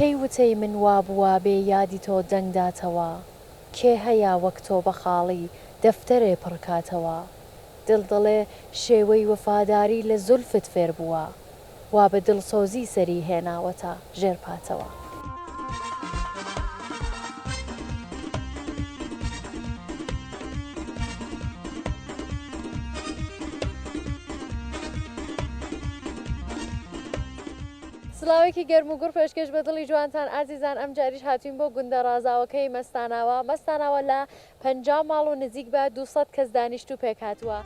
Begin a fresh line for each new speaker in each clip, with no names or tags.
کەی وتەی من وابووە بێ یادی تۆ دەنگ داتەوە کێ هەیە وەک تۆ بە خاڵی دەفتەرێ پڕ کاتەوە دڵ دەڵێ شێوەی وەفاداری لە زولفت فێر بووە وا بە دڵسۆزی سەری هێناوەتە ژێر پاتەوە. سڵاوێکی گەرم و گوڕ پێشکێش بە دڵی جوانتان ئازیزان ئەمجاریش هاتووین بۆ گوندە ڕازاوەکەی مەستاناوا مەستاناوا لە پەنجا ماڵ و نزیک بە دوو سەد کەس دانیشتوو پێکهاتووە.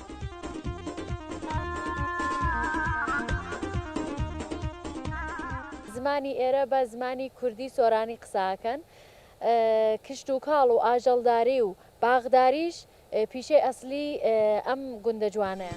زمانی ئێرە بە زمانی کوردی سۆرانی قسە ئەکەن. کشتوکاڵ و ئاژەڵداری و باغداریش پیشەی ئەسلی ئەم گوندە جوانەیە.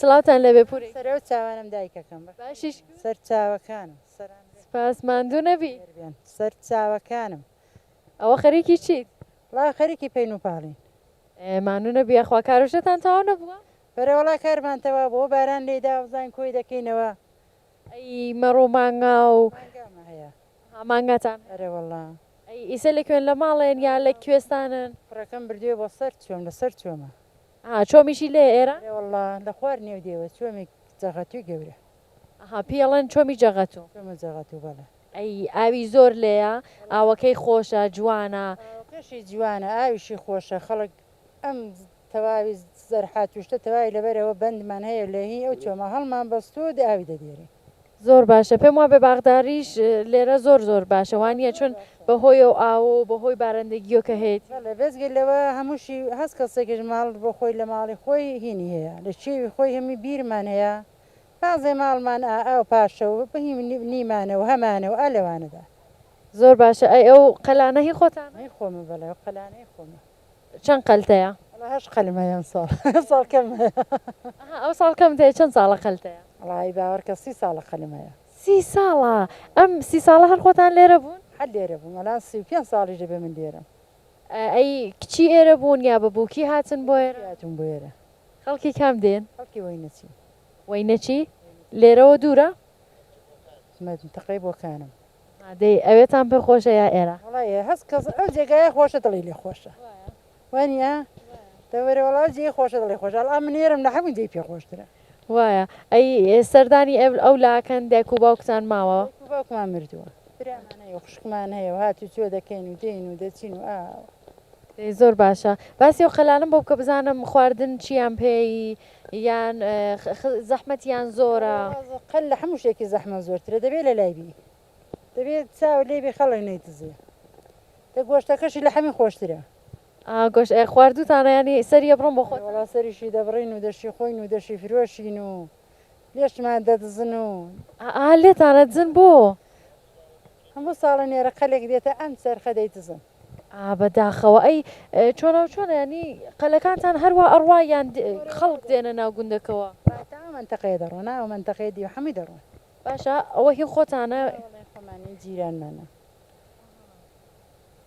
سڵاوتان لێ بێ پوری سەرە و چاوانم
دایکەکەم بە باشیش سەر
چاوەکانم
سەران سپاس
ماندوو نەبی بێن سەر
چاوەکانم ئەوە
خەریکی چیت ڵا خەریکی
پین و پاڵین ئێ، ماندوو
نەبی یاخوا کارۆشتان تەواو نەبووە بەرەوەڵا کارمان
تەوا بۆ باران لێدا وزان کۆی دەکەینەوە ئەی
مەڕۆ مانگا و. مانگامە هەیە.
ها مانگاتان هەیە.
ئەرێ وەڵا.
ئەی ئیسە لە
کوێن لە ماڵێن یا لە کوێستانن؟ کوڕەکەم بردویە بۆ
سەر چۆم لە سەر چۆمە. ها چۆمیشی
لێیە ئێرە؟ ئەرێ وەڵا لە خوار
نێو دێوە چۆمی جەغەتوی گەورە. ها پێی ئەڵێن
چۆمی جەغەتو. چۆمە جەغەتو
بەڵێ. ئەی ئاوی
زۆر لێیە؟ ئاوەکەی خۆشە جوانە؟ ئاوەکەشی جوانە
ئاویشی خۆشە خەڵک ئەم تەواوی زەرحاتوشتە تەواوی لەبەرئەوە بەندمان هەیە لە هی ئەو چۆمە هەڵمان بەستووە و ئاوی دەدێرێ. زۆر باشە
پێم وابێ باخداریش لێرە زۆر زۆر باشە وانیە چون بە هۆی ئەو ئاوە و بە هۆی بارەندەگییۆ کە هەیەتی. بەڵێ بێجگە لەوە
هەمووشی هەس کەسێکیش ماڵ بۆ خۆی لە ماڵی خۆی هینی هەیە لە کێوی خۆی هەمی بیرمان هەیە بازێ ماڵمان ئا ئاو پاشە و هی نیمانە و هەمانە و ئا لەوانەدا. زۆر باشە
ئەی ئەو قەلانە هی خۆتانە؟ هی خۆمە بەڵێ ئەو قەلانە
هی خۆمە. چەند قەلتەیە؟
وەڵا هەشت قەلم هەیە
ئەمساڵ ئەمساڵ کەم هەیە. ئەها
ئەوساڵ کەمت هەیە چەند ساڵە قەلتەیە؟ وەڵا ی باوەڕکە سی
ساڵە قەلم هەیە. سی ساڵە؟
ئەم سی ساڵە هەر خۆتان لێرە بوون؟ هەر لێرە بووم ئەلان
سی و پێنج ساڵیش دەبێ من لێرەم. ئەی
کچی ئێرە بوون یا بە بووکی هاتن بۆ ئێرە؟ بووکی هاتوون بۆ ئێرە.
خەڵکی کام دێن؟
خەڵکی وەینەچی.
وەینەچی؟
لێرەوە دوورە؟
منتەقەی بۆکانم. ها دەی
ئەوێتان پێ خۆشە یا ئێرە. وەڵا ئێ هەست کەس ئەو
جێگایە خۆشە دڵی لێ خۆشە وا نیە دە وەرە وەڵا ئەو جێی خۆشە دڵی خۆشە ئەڵا من ئێرەم لە هەموو جێی پێ خۆشترە. وایە
ئەی سەردانی ئێ ئەو لاکەن دایک و باوکتان ماوە. دایک و باوکمان مردووە برامان
هەیە و خوشکمان هەیە و هات و چۆ دەکەین و دێین و دەچین و ئاوا. دەی زۆر
باشە باسی ئەو قەلانەم بۆ بکە بزانم خواردن چییان پێ ی یان زەحمەتیان زۆرە؟ قەل لە حەموو
شتێکی زەحمەت زۆرترە دەبێ لە لای بی دەبێ چاوت لێ بی خەڵک نەیتزێ دە گۆشتەکەشی لە حەمی خۆشترە. ئا گۆشت ئێ
خواردووتانە یانی سەری ئەبڕن بۆ خۆتان؟ وەڵا سەریشی دەبڕین و
دەشیخۆین و دەشیفرۆشین و لێشمان دەدزن و. ئا لێتان
ئەدزن بۆ؟
هەموو ساڵە نێرەقەلێک دێتە ئەم چەرخە دەیدزن. ئا بەداخەوە
ئەی چۆنەو چۆنە یانی قەلەکانتان هەروا ئەڕوا یان خەڵک دێنە ناو گوندەکەوە. تا ئەو مەنتەقەیە
دەڕۆن ئەو مەنتەقەی دی و حەمووی دەڕۆن. باشە ئەوە هی
خۆتانە؟ نا وەڵای خۆمان نین
جیرانمانە.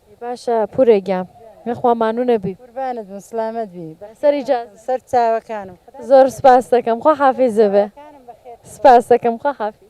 ئەی
باشە پورێ گیان یەخوا مانوو نەبی. قوربانت بم سڵامەت
بی. لەسەر ئیجازە. سەر
چاوەکانم.
زۆر سپاستەکەم
خواحافیزبێ. سپاستەکەم خواحافیز.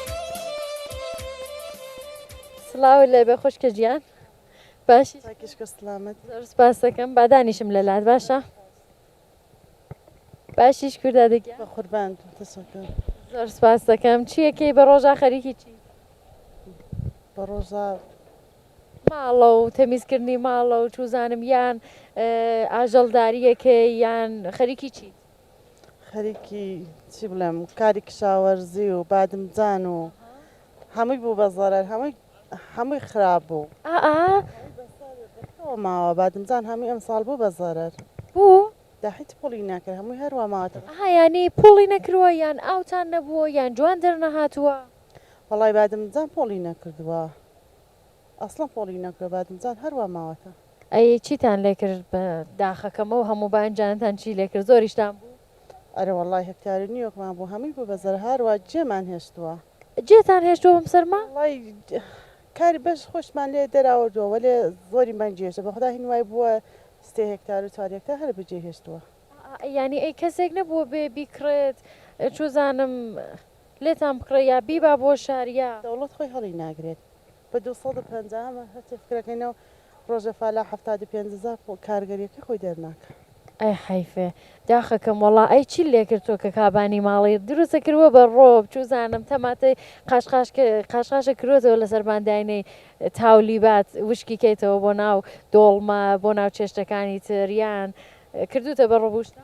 سڵاو لێبێ خوشکە گیان باشی تاکیشکە سلامت
زۆر سپاس دەکەم
با دانیشم لە لات باشە باشیش کووردا دەگیان بە قوربان تەسەکە
زۆر سپاس
دەکەم چیەکەی بە ڕۆژا خەریکی چی
بە ڕۆژا
ماڵە و تەمیزکردنی ماڵە و چوزانم یان اه، ئاژەڵداریەکەی یان خەریکی چی خەریکی
چی بڵێم کاری کشاوەرزی و بادمجان و هەمووی بوو بە زەرەر هەمووی هەمووی خراپ بوو ئا ئا
ئەوە
ماوە بادمجان هەمووی ئەمساڵ بوو بە زەرەر بوو دا
هیچ پوڵی
نەکرد هەمووی هەروە ماوەتەوە ئەها یانی پوڵی
نەکرووە یان ئاوتان نەبووە یان جوان دەرنەهاتووە وەڵای
بادمجان پوڵی نەکردووە ئەسڵەن پۆڵی نەکرە بادمجان هەر وا ماوەتە. ئەی چیتان
لێکرد بە داخەکەم ئەو هەموو بانجانەتان چی لێکرد زۆریشتان بوو. ئەرێ وەڵای
هێکتاری نیوەکمان بوو هەمووی بوو بە زەرە هار وا جێمان هێشتووە. جێتان هێشتووە
بەم سەرما؟ وەڵای
کاری بەش خۆشمان لێ دەراوردووە وەلێ زۆری بەنج هێشتە بەخودا هین وای بووە سێ هێکتار و چوار هێکتار هەر بەجێ هێشتووە. ئەی یانی ئەی
کەسێک نەبووە بێ بیکڕێت چوزانم. لێتان بکڕێ یا بیبا بۆ شاریا. دەوڵەت خۆی هەڵی
ناگرێت بە دوو سەد و پەنجا ئەمە هەرچی فکرەکەینەو ڕۆژە فالە حەفتا دو پێنج زا کارگەریەکەی خۆی دەرناکا. ئەی حەیف
داخەکەم وەڵا ئەی چیت لێکرد تۆ کە کابانی ماڵی دروستە کروە بە ڕۆ بچوزانم تەماتەی قاشقاش قاشقاشە کروەتەوە لەسەر بان داینێی تاولیبات وشکی کەیتەوە بۆ ناو دۆڵمە بۆ ناو چێشتەکانی تر یان کردوتە بە ڕبوشتە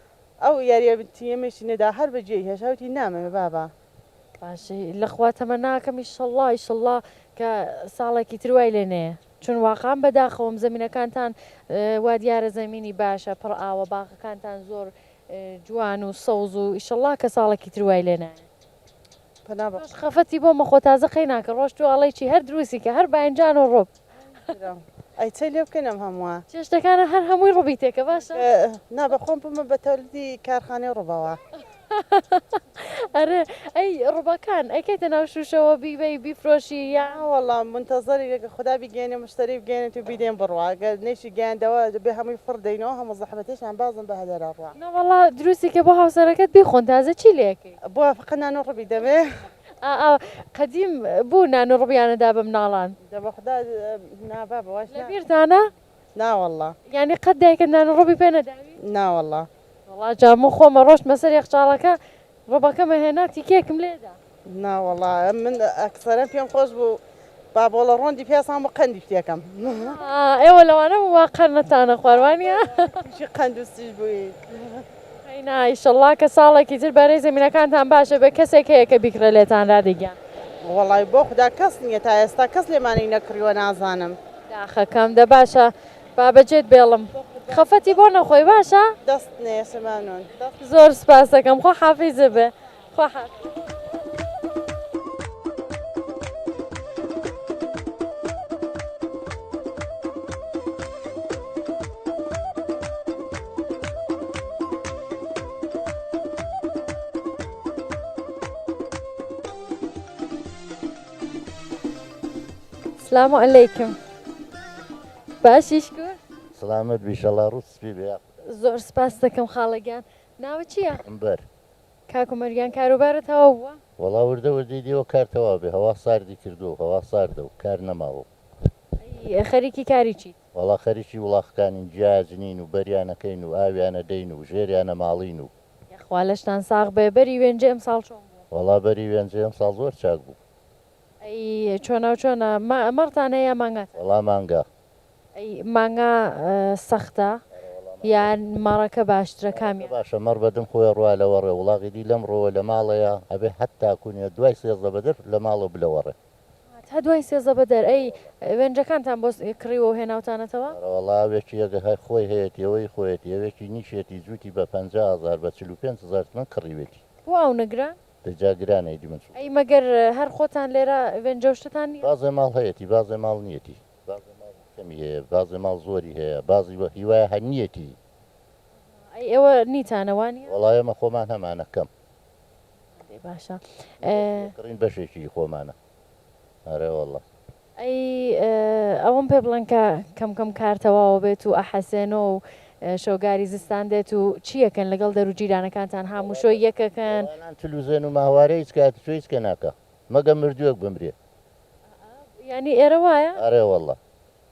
ئەو یاریە بتی ئمەیشی نەدا هەر بە گوێی هێشا وتی نامەوێ بابە. باشی
لەخوا تەمەناکەم ئیشەڵا ئیشەڵا کە ساڵێکی تر وای لێ نەیە چون واقعەن بەداخەوەم زەمینەکانتان وا دیارە زەمینی باشە پڕ ئاوە باغەکانتان زۆر جوان و سەوز و ئیشەڵا کە ساڵێکی تر وای لێ نایە. پەنا بە خوا. خەفەتی بۆ مەخۆ تازە قەیناکە ڕۆشتوە ئەڵێی چی هەر دروستی کە هەر باینجان و ڕوب. برام ئەی
چی لێ بکەین ئەم هەمووە. چێشتەکانە هەر هەمووی
ڕوبی تێکە باشە. نا بە خۆم
بمە بە تەولدی کارخانەی ڕوبەوە.
ئەرێ ئەی ڕوبەکان ئەیکەیتە ناو شوشەوە بیبەی بیفرۆشی یان. نا وەڵا مونتەزەرین
کە خودا بیگەیەنێ موشتەری بگەیەنێت و بیدەین بڕوا گەر نەیشی گەیاندەوە دەبێ هەمووی فڕ دەینەوە هەموو زەحمەتێشمان بازن بە هەدەرە ڕا. نەوەڵا دروستی کە
بۆ هاوسەرەکەت بیخۆن تازە چی لێ ئەکەی. بۆ فقە نان و ڕبی
دەبێ؟ ئا ئا
قەدیم بوو نان و ڕبیانە دا بە مناڵان. دەبە خودا
نا بابە واش نا. لەبیرتانە؟
نا وەڵڵا.
یانی قەت دایکت
نان و ڕبی پێ نەداوی؟ نا وەڵڵا.
وەڵا جا من
خۆمە ڕۆشتمە سەر یەخچاڵەکە ڕبەکەمە هێنا تیکەیەکم لێ دا. نا وەڵا
من ئەکسەرەن پێم خۆش بوو با بۆڵە ڕۆندی پێسان بۆ قەندی پتێکەم. ئێوە
لەوانە بوو وا قەرنتانە خوار وانیە؟ تووشی قەند و
سیژ بوویت. هەینا
ئیشەڵڵا کە ساڵێکی تر بەرەی زەمینەکانتان باش بێ کەسێک هەیە کە بیکڕێ لێتان رادی گیان. وەڵای بۆ
خودا کەس نییە تا ئێستا کەس لێمانی نەکڕیوە نازانم. داخەکەم دە
باشە با بەجێت بێڵم خەفەتی بۆ نەخۆی باشە. دەست نێسە
مەمنون. زۆر
سوپاستەکەم خواحافیزبێ. سلام و علیکم باشیش کرد سلامت بیشەڵا
ڕووسپی بێ زۆر سپاس
دەکەم خاڵەگیان ناوە چییە؟ بەر
کاک عومەر گیان
کاروبارت تەواو بووە؟ وەڵا وردە وردەی
دێوە کار تەواو بێ هەوا ساردی کردووە و هەوا ساردە و کار نەماوە و. ئەی
خەریکی کاری چیت؟ وەڵا خەریکی
وڵاخکانین جیاج نین و بەریانە کەین و ئاویانە دەین و ژێریانە ماڵین و. یەخوا لەشتان
ساغ بێ بەری وێنجێ ئەمساڵ چۆن بوو؟ وەڵا بەری وێنجێ
ئەمساڵ زۆر چاک بوو. ئەی چۆناو
چۆنە
مەڕتان
هەیە یا
مانگاتە؟
وەڵا مانگا. ئەی مانگا سەختە یان مەڕەکە باشترە کامیان؟ مەڕەکە باشە مەڕ بەدم خۆیە
ڕوا لەوەڕێ وڵاغی دی لەم ڕۆوە لەماڵەیە ئەبێ حەتا کونیە دوای سێزدە بەدەر لەماڵەوە بلەوەڕێ. تا دوای
سێزدە بەدەر. ئەی وێنجەکانتان بۆ کڕیوەو هێناوتانەتەوە؟ ئەرەوەڵا ئەوێکی یەک
هەر خۆی هەیەتی ئەوەی خۆیەتی ئەوێکی نیشێتی جووتی بە پەنجا هەزار بە چل و پێنج هەزار تمەن کڕیوێتی. بۆ ئاونە گران؟
دە جا گرانە ئیدی
من چ بکەم. ئەی مەگەر
هەر خۆتان لێرە وێنجەو شتتان نیە؟ بازێ ماڵ هەیەتی بازێ
ماڵ نیەتی. بازێ ماڵ کەمی هەیە بازێ ماڵ زۆری هەیە بازی وە هیوایە هە نیەتی.
ئەی ئێوە نیتانە وانیە؟ وەڵا ئێمە خۆمان
هەمانە کەم. ئەرێ
باشە ئێ. کڕین
بەشێکی خۆمانە ئەرێ وەڵا.
ئەی ئەوەم پێ بڵێن کە کەم کەم کار تەواو بێت و ئەحەسێنۆ و شەوگاری زستان دێت و چی ئەکەن لەگەڵ دەرو جیرانەکانتان هاموشۆی یەک ئەکەن؟ ئەوانان تلوزێن و
ماهوارە هیچ کە ئەتچۆ هیچ کە ناکا. مەگەم مردووێک بمرێ. ئائا
یانی ئێرە وایە؟ ئەرێ وەڵا.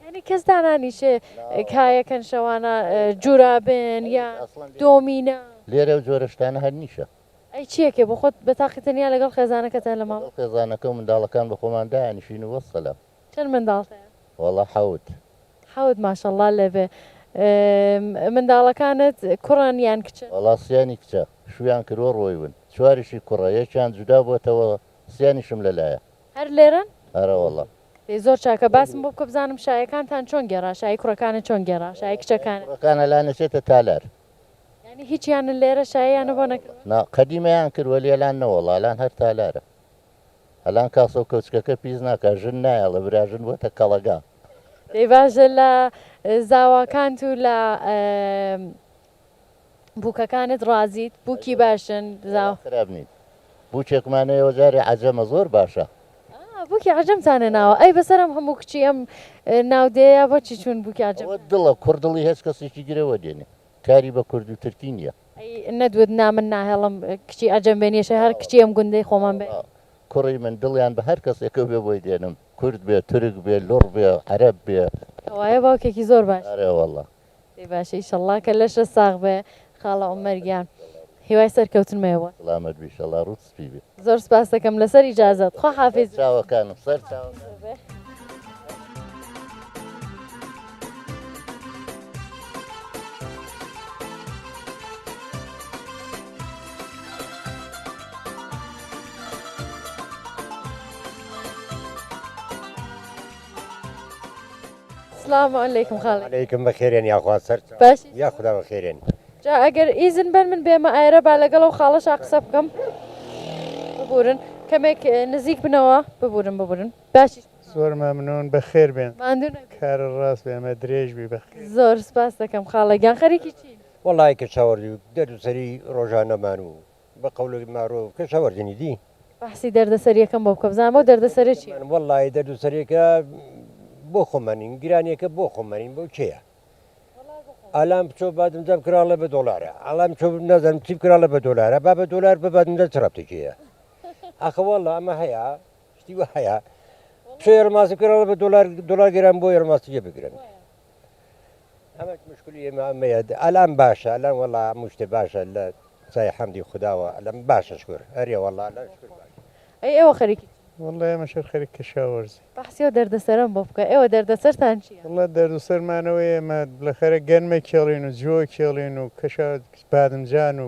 یانی کەس
دانانیشێ کایەکەن شەوانە جورابێن یا دۆمینە. لێرە ئەو جۆرە
شتانە هەر نیشە. ئەی چیەکێ بۆ
خۆت بەتاقی تەنیا لەگەڵ خێزانەکەتە لە ماڵ؟ لەگەڵ خێزانەکە و منداڵەکان
بەخۆمان دایانیشین و وەسەلام. چەن منداڵت
هەیە؟ وەڵا حەوت.
حەوت
ماشەڵڵا لێبێ منداڵەکانت کوڕن یان کچن؟ وەڵا سیانی کچە
شویان کروە ڕۆیون چواریشی کوڕە یەکیان جودا بۆتەوە سیانیشم لەلایە. هەر لێرەن؟
ئەرە وەڵا.
دەی زۆر چاکە
باسم بۆ بکە بزانم شایەکانتان چۆن گێڕا شایی کوڕەکانت چۆن گێڕا شایی کچەکانت؟ شایی کوڕەکان ئەلان ئەچێتە
تالار. یانی
هیچیان لێرە شاییانە بۆ نەکردوە؟ نا قەدیمەیان کروە لێ
ئەلان نەوەڵا ئەلان هەر تالارە ئەلان کاسۆ کۆچکەکە پیس ناکا ژن نایەڵێ برا ژن بۆتە کەڵەگا. دەی باشە
لە زاواکانت و لە بوکەکانت ڕازیت بوکی باشن زاوا. زاوا خراپ نین
بوکێکمان هەیە جارێ عەجەمە زۆر باشە. ئا بوکی
عەجەمتان هێناوە ئەی بەسەر ئەم هەموو کچی ئەم ناودێیە بۆچی چوون بوکی عەجەم. ئەوە دڵە کوڕ دڵی هێچ
کەسێکی گرەوە دێنێ. کاری بە کورد و ترکی نیە. ئەی نەدوت نا
من ناهێڵم کچی عەجەم بێ نیشە هەر کچی ئەم گوندەی خۆمان بێ. کوڕی من
دڵیان بە هەر کەسێکەو بێ بۆی دێنم کورد بێ تورک بێ لوڕ بێ عەرەب بێ. کەوایە باوکێکی
زۆر باشی. ئەرێ وەڵا.
دەی باشە
ئیشەڵا کە لەشە ساغ بێ خاڵە عومەر گیان هیوای سەرکەوتنمەیە بۆت. سڵامەت بی شەڵا
ڕوت سپی بێ. زۆر سپاست دەکەم
لەسەر ئیجازەت خوا حافیز. چاوەکانم سەر
چاوەکانم.
سڵاو علیکم خاڵ علیکم بەخێرێن یاخوا
سەر بەش یاخدا
بەخێرێن
جا ئەگەر
ئیزن بەن من بێمە ئایرە با لەگەڵ ئەو خاڵەشا قسە بکەم ببورن کەمێک نزیک بنەوە ببورن ببورن باشی. زۆر مەمنون
بەخێربێن ماندوو نەبی. کار
ڕاست بێ
مە درێژ بی بەخێر. زۆر سپاست دەکەم
خاڵە گیان خەریکی چین؟ وەڵای کەچەوەڕی
دەرد و سەری ڕۆژانەمان و بە قەولەی مارۆڤ کەچەوەڕینی دی. بەحسی دەردە
سەریەکەم بۆ بکە بزانم ئەو دەردە سەرە چیە. وەڵای دەردو سەرێکە
بۆ خۆمانین گرانیەکە بۆ خۆمانین بۆ کێیە. ئالان بچۆ بادم دەم کراڵە بە دۆلارە ئالان چۆ نەزانم چی کراڵە بە دۆلارە با بە دۆلار بە بادم دە ترابتێکەیە ئەخەوەڵە ئەمە هەیە شتی وە هەیە چۆ ێرماسی کراڵە بە دۆلار دۆلار گەران بۆ ێرماسیە بگرن ئەمە مشکلی ئێمە ئەمەیە ئالان باشە ئەلان وەڵا مشتێ باشە لە سای حەمدی خداوە ئەلم باشە شکر هەرێ وەڵا ئەی ئێوە خەریکی
وەڵێ مەشەر
خەریک کەشاوەرزی بەحسی ئەو دەردەسەرەم
بۆ بکە. ئێوە دەردەسەرتان چییە؟ وەڵڵا دەردەسەرمان
ئەوەیە ئێمە لەخەرە گەنم ئەکێڵین و جۆ ئەکێڵین و کەشە بادمجان و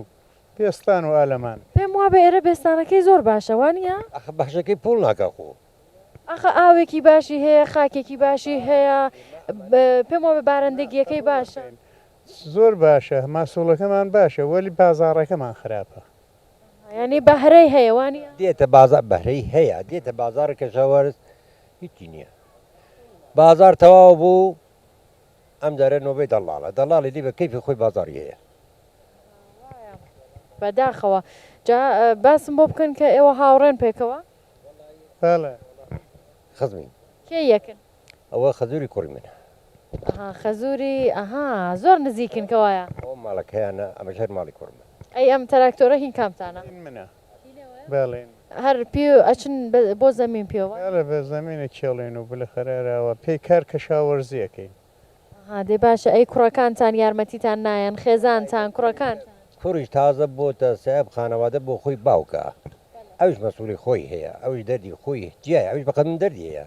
پێستان و ئالەمان. پێم وابێ ئێرە
بێستانەکەی زۆر باشە وا نییە؟ ئاخە بەحشەکەی پووڵ
ناکا خۆ. ئاخە
ئاوێکی باشی هەیە، خاکێکی باشی هەیە. پێم وابێ بارەندەگییەکەی باشە. زۆر
باشە، ماسووڵەکەمان باشە وەلی بازاڕەکەمان خراپە. یانی
بەهرەی هەیە وانیە؟ دێتە بازاڕ بەهرەی
هەیە دێتە بازاڕی کەشاوەرز هیچی نیە بازاڕ تەواو بوو ئەم جارە نۆبەی دەڵاڵە دەڵاڵی دی بە کەیفی خۆی بازاڕی هەیە.
بەداخەوە جا باسم بۆ بکەن کە ئێوە هاوڕێن پێکەوە؟ بەڵێ
خزمین. کێ یەکن؟
ئەوە خەزوری
کوڕی منە. ئەها
خەزوری ئەها زۆر نزیکن کەوایە. ئەوە ماڵە کەیانە
ئەمەش هەر ماڵی کوڕ من. ئەی ئەم تراکتۆرە
هی کامتانە. هی منە
بەڵێ. هەر پێ
ئەچن بۆ زەمین پێ وایە. بەڵێ بە زەمین
ئەکێڵێن و بلەخەرە ئەراوە پێی کار کەشاوەرزی ئەکەین. ئەها دەی
باشە ئەی کوڕەکانتان یارمەتیتان نایەن خێزانتان کوڕەکانتان. کوڕیش تازە
بۆتە سەئب خانەوادە بۆ خۆی باوکە ئەوش مەسولی خۆی هەیە ئەوش دەردی خۆی جیایە ئەوش بەقەد من دەردی هەیە.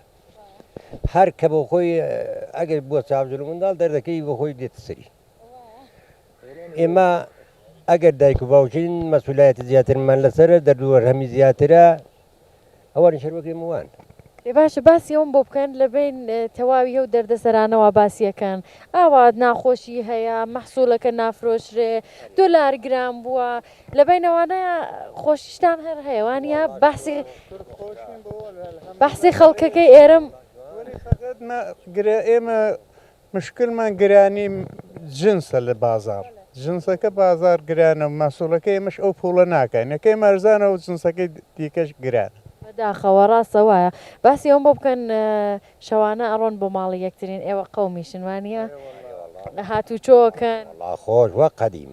هەر کە بۆ خۆی ئەگەر بووە چاوجل منداڵ دەردەکەی بۆ خۆی دێتە سەری ئێمە ئەگەر دایک و باوچین مەسولایەتی زیاترمان لەسەر دەردووە هەمی زیاترە ئەوان شەروەکەی موان ێ باشە باسی
ئەوم بۆ بکەن لە بین تەواوی هەو دەردەسەرانەوە باسیەکەن ئاوات ناخۆشی هەیە مەحسوولەکە نافرۆشرێ دۆلار گران بووە لە بینەوانە خۆشیشتان هەر هەیە وانە بەسی بەحسی خەڵکەکەی ئێرم گرە
ئێمە مشکلمان گرانی جنسە لە بازار جنسەکە بازار گرانە و مەسوولەکە ئێمەش ئەو پوڵە ناکەین نەکەی مەرزانە و جنسەکەی دیکەش گران داخەوە ڕاستە
وایە باسی ئەوم بۆ بکەن شەوانە ئەڕۆن بۆ ماڵی یەکترین ئێوە قەومیشن وانە هاتوو چۆکەن خۆش
وە قەدیم.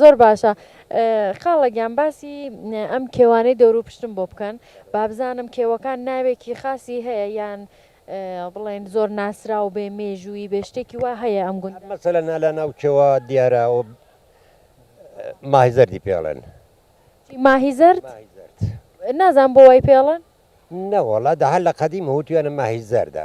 زۆر باشە
خاڵە گیان باسی ئەم کێوانەی دەورو پشتم بۆ بکەن بابزانم کێوەکان ناوێکی خاصی هەیە یان بڵێن زۆر ناسراو بێ مێژووی بێ شتێکی وا هەیە ئەم گوند مەسەلە نالا ناو کێوە
دیارە و ماهی زەردی پێڵێن ماهی
زەرد نازان بۆ وای پێڵن نەوەڵا دە
هەر لە قەدیم هوتویانە ماهی زەردە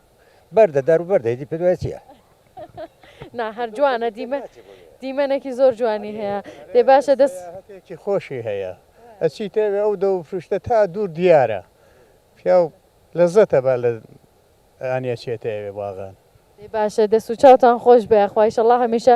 بەردە دار و بەردە ئیدی پێت وایە چییە؟
نا هەر جوانە دیمە دیمەنێکی زۆر جوانی هەیە دێ باشە دەست هەتێکی خۆشی
هەیە ئەچی تێوێ ئەو دەو فروشتە تا دوور دیارە پیاو لەزەتە با لە ئانیە چێتەوێ باغان. دەی باشە دەست
و چاوتان خۆش بێ یاخوا ئیشەڵا هەمیشە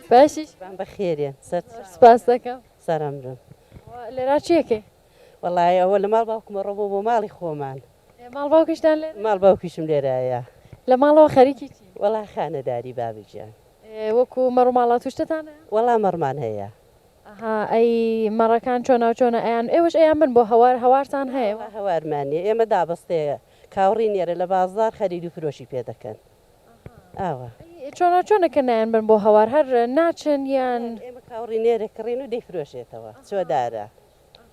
باشیش بم بە خێرێ
سپاس دەکەم
سەرم بم
لێرا
چیەکەی وەڵی ئەوە
لە ماڵ باوکمە ڕۆبۆ بۆ ماڵی خۆمان ماڵ باوکیشتان
لێ ماڵ باوکیشم لێرایە
لە ماڵەوە
خەریکی چی وەڵا خانەداری
بابگیان وەکو
مەڕماڵا توشتتان وەڵا مەڕمان
هەیە ئەی
مەڕەکان چۆنا چۆنە ئەیان ئێوەش ئەیان بن بۆ هەوار هەوارتان هەیە هەوارمانە ئێمە
دابستەیە کاوڕی نێرە لە بازار خەریدو فرۆشی پێ دەکەن ئاوا. چۆنە چۆنە
کە نایەن بەن بۆ هەوار هەر ناچن یان. ئێمە کاوڕی نێرە
کڕین و دەیفرۆشێتەوە چۆدارە.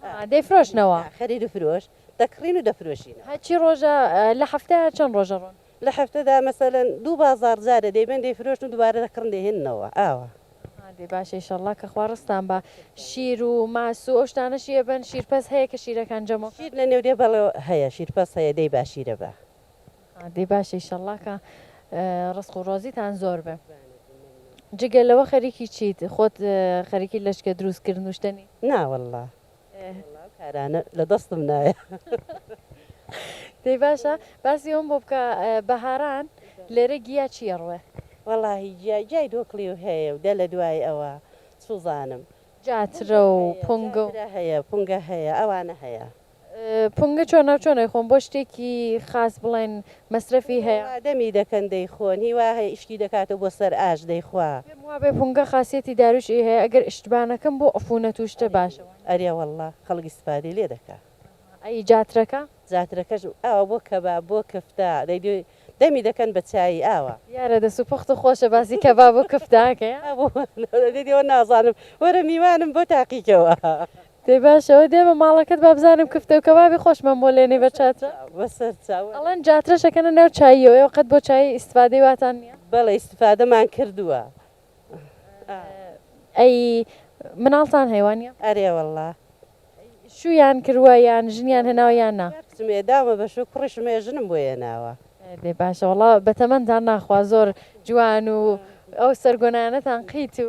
ئاها
دەیفرۆشنەوە. ئاخ خەریرو فرۆش
دەکڕین و دەفرۆشینەوە. هەر چی ڕۆژە
لە حەفتە چەن ڕۆژە ڕۆن. لە حەفتەدا
مەسەلەن دوو بازاڕ جارێ دەیبەن دەیفرۆشن و دوبارە دەکڕن دەیهێننەوە ئاوا. ئاها دەی باشە
ئیشەڵا کە خوا ڕزقتان با شیر و ماس و ئەو شتانەشی ئەبەن شیرپەز هەیە کە شیرەکان جەمەو. شیر لە نێو دێ بەڵێ
هەیە شیرپەز هەیە دەی با شیرە با. دەی باشە
ئیشەڵڵا کە ڕزق و ڕۆزیتان زۆر بێ جگە لەوە خەریکی چیت خۆت خەریکی لەچکە دروست کردن و شتەنی؟ نا وەڵڵا
ئەو کارانە لە دەستم نایە.
دەی باشە باسی ئەوەم بۆ بکە بەهاران لێرە گیا چی ئەڕوێ؟ وەڵاهی گیا
گیای دۆکڵی و هەیە و دە لە دوای ئەوە سووزانم. جاترە
و پونگە و. جاترە هەیە پونگە
هەیە ئەوانە هەیە. پونگە
چۆنە و چۆن ئەیخۆن بۆ شتێکی خاس بڵێن مەسرەفی هەیە. وا دەمی دەکەن دەیخۆن
هی وا هەیە ئیشکی دەکاتەوە بۆ سەر ئاش دەیخوا. پێم وابێ پونگە
خاسیەتی داروش ی هەیە ئەگەر ئشتبانەکەم بۆ عفونەت و شتە باشە وانیە؟ ئەرێ وەڵا
خەڵک ئیستفادەی لێ دەکا. ئەی جاترەکە؟ جاترەکەش ئاوا بۆ کەباب بۆ
کفتە
دەی دەمی دەکەن بە چایی ئاوا. دیارە دەست و پوخت و
خۆشە باسی کەباب و کفتە ئەکەیە. ئەوە
نازانم وەرە میوانم بۆ تاقیکەوە. دەی باشە
ئەوە دێمە ماڵەکەت با بزانم کفتە و کەبابی خۆشمان بۆ لێنەی بە چاترە بەسەر چاو
ئەڵێن جاترەش ئەکەنە
ناو چاییەوە ئێوە قەت بۆ چایی ئیستفادەی واتان نییە؟ بەڵێ ئیستفادەمان
کردووە. ئەی
مناڵتان هەیە وانیە؟ ئەرێ وەڵڵا.
شوویان
کرووە یان ژنیان هێناوە یان نا؟ دوو کچم هێداومە بە شوو
کوڕیشم هەیە ژنم بۆ هێناوە. دەی باشە وەڵڵا
بە تەمەنتان ناخوا زۆر جوان و ئەو سەرگۆنانەتان قیت و.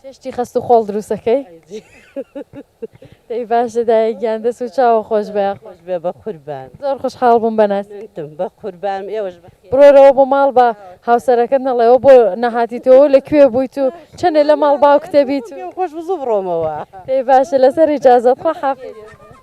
چێ شتی خەست و خۆڵ دروست
ئەکەی دەی باشە دایە گیان دەس و چاوە خۆش بە خۆش بێ بە قوربان
زۆر خوش حاڵ بووم بە
ناسی تم بە قوربان
ئێوەش بە بڕۆرەوە بۆ ماڵ
بە هاوسەرەکەت نەڵێەوە بۆ نەهاتیتەوە لە کوێ بوویت و چەنێ لە ماڵ باوکتە بیت و خۆش بزوو بڕۆمەوە
دەی باشە لەسەر
ئیجازەت خوا حافیز.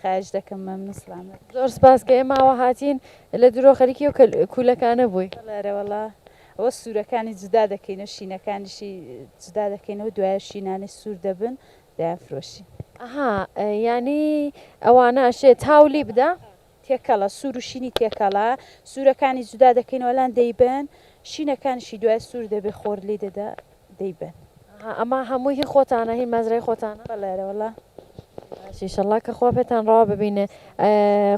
خایش دەکەم
مەمنون سڵامەت. زۆر سپاس کە ئێماوە
هاتین لە درۆ خەریکی ئەو کولەکانە بووی. بەڵێ ئەرێ وەڵا
ئەوە سوورەکانی جودا دەکەینەوە شینەکانیشی جودا دەکەینەوە دوایە شینانەی سوور دەبن دەیان فرۆشی. ئەها
یانی ئەوانە ئەشێ تاو لی بدا؟ تێکەڵە سوور
و شینی تێکەڵە سوورەکانی جودا دەکەینەوە لان دەیبن شینەکانیشی دوای سوور دەبێ خۆر لی دەدا. دەیبەن. ها ئەمە
هەمووی هی خۆتانە هی مەزرای خۆتانە. بەڵێ ئەرێوەڵا.
باش
ئیشەڵا کە خوا پێتان ڕەوا ببینێ